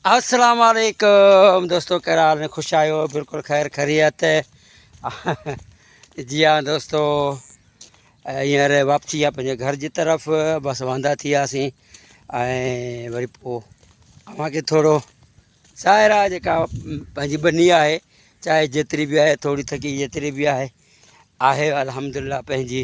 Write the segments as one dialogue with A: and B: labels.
A: السلام علیکم دوستو کير حال ۾ خوش آيو بالکل خير خريت جي ها دوستو هينئر واپسي آ پنهنجي گهر جي طرف بس واندا ٿي وياسين ۽ وري پوء اوهان کي ٿورو ظاهر آهي جيڪا پنهنجي ٻني آهي چاهي جيتري به آهي ٿوري ٿڪي جيتري به آهي آهي الحمدلله پنهنجي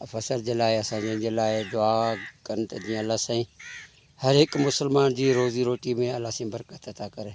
A: افسر جي لاء اسان جن جي لاء دعا ڪن ته جيئن الله سائين هر هڪ مسلمان جي روزي روٽي ۾ الله سائين برڪت عطا ڪري